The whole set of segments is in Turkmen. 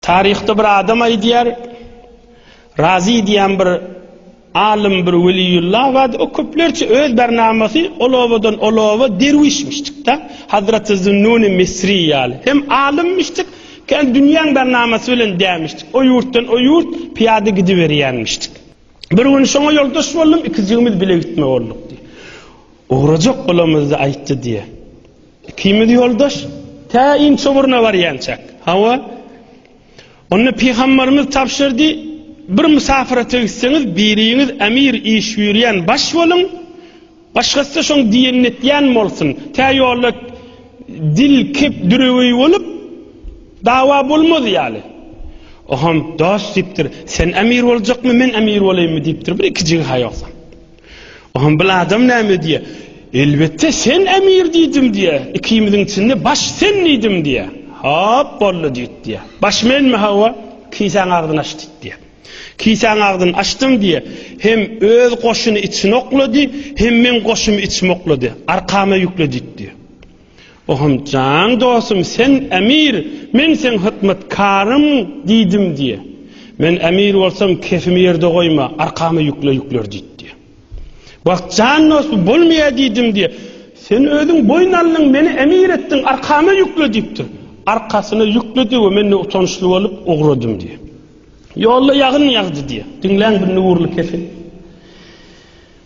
Taryhda bir adam aýdýar, Razy diýen bir alym bir weliýullah bardy, o köplerçe öz barnamasy ol obadan ol oba derwişmişdik-de, Hazraty Zünnuni Misri ýaly. Hem alymmişdik, kän dünýäň barnamasy bilen dämişdik. O ýurtdan o ýurt pyýada gidiberýänmişdik. Bir gün şoňa ýoldaş boldum, ikijigimiz bile gitme bolduk diýýär. Ugrajak bolamyzda aýtdy diýýär. Ikimiz ýoldaş tä inçugruna barýançak. Hawa. Onda pygamberimiz tabşyrdy, Bir mysafyrata gitseňiz, biriňiz emir iş buyurýan baş boluň, başgasy-da şoň diýenini etýän bolsun. Tä ýolda dil kep düreweý bolup, dawa bolmaz ýaly. Oham, Dost, diýipdir, sen emir boljakmy, men emir bolaýynmy diýipdir, bir ikijigi-ha ýogsam. Ahmbil adam näme diýýär? Elbetde sen emir diýdim diýýär. Ikimiziň içinde baş sen diýdim diýýär. Hop boldy diýdi diýýär. Baş menmi hawa? Kisäň agzyny aç diýdi diýýär. Kisäň agzyny açdym diýýär. Hem öz goşuny içine oklady, hem meň goşumy içime oklady. Arkama ýükle diýdi diýýär. Oham Jan dostum sen emir men seň hytmatkaryň diýdim diýe. Men emir bolsam kefimi ýerde goýma arkama ýükle ýükler diýdi diýe. Wah Jan dost bu bolmaýa diýdim diýe. Sen özüň boýun aldyň meni emir etdiň arkama ýükle diýipdir. Arkasyna ýükledi we men-de utançly bolup ugradym diýe. Ýolda ýagyn ýagdy diýe. Diňläň bu nurly kefi.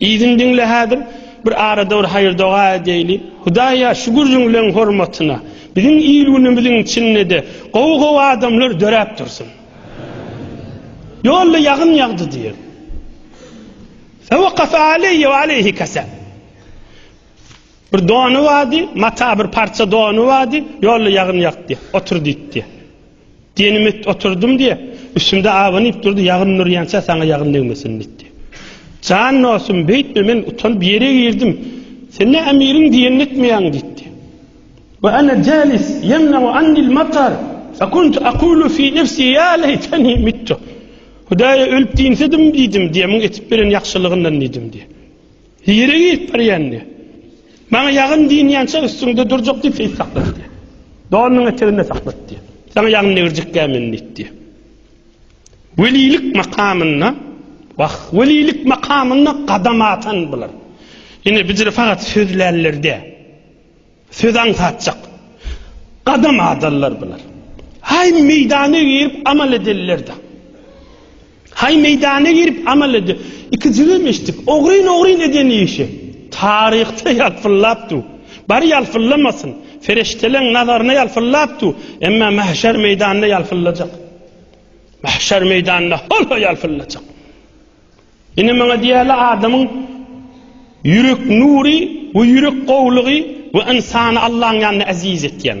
Yzyny diňle häzir bir arada bir haýyr doga edeýli. Hudaýa şu gürrüňleň hormatyna biziň il-günümiziň içindede gowy gowy adamlar döräp dursun. Ýolda ýagyn ýagdy diýeň. Fewakafe aleýe we aleýhi kese. Bir dony bardy, mata bir parça dony bardy, ýolda ýagyn ýagdy, otur diýdi. Dynamit oturdym diýip, üstümde abanyp durdy, ýagyn nurýança saňa ýagyn degmesin diýdi. Jan dostum, beýtme, men utanyp ýere girdim. Sen ne emiriň diýenini etmeýäň diýdi. Wa ana jalis ýemnau annil matar, fa kuntu aqulu fi nefsi ýa leýteni mittu. Hudaýa ölüp diýinsedim diýdim, diýemiň etip beren ýagşylygyndan diýdim diýdi. Nirä gidip barýanyny, Maňa ýagyn dynýança üstüňde durjak diýip seýis saklatdy. Donunyň eteginde saklatdy. Saňa ýagyn degirjekkä men diýdi. Welilik makamynda, wah, welilik makamynda gadam atan bular. Ine, bijir fakat sözlänler däl. Söz aňsatjak gadam adallar bular. Haý meýdana girip amal edellerdä. Haý meýdana girip amal ede. Iki jigim eşitdik. Ogryn ogryn eden işi. Taryhda ýalpyllap dur. Bar ýalpyllamasyn. Ferişteleň nazaryna ýalpyllap dur. Emma mahşer meýdanynda ýalpyllajak. Mahşer meýdanynda hol-ho ýalpyllajak. Ine maňa diýýärler adamyň ýürek nury we ýürek gowulygy we ynsany Allaň ýanynda eziz etýän.